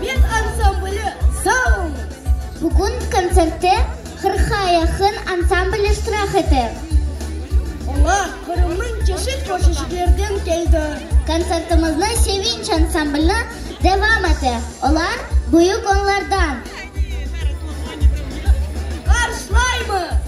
Bes ansambli, sağ olunız! Bugün kontsertte qırqqa yaqın ansambl iştirak ete. Olar Qırımnıñ çeşit köşeciklerden keldi. Kontsertimizni Sevinç ansamblni devam ete, olar büyük onlardan. Qarşılaymız!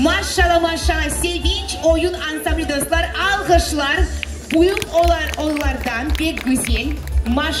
Maşşala, maşşala, Sevinç oyun ansambli dostlar, alğışlar büyük olardan pek güzel, maşşala.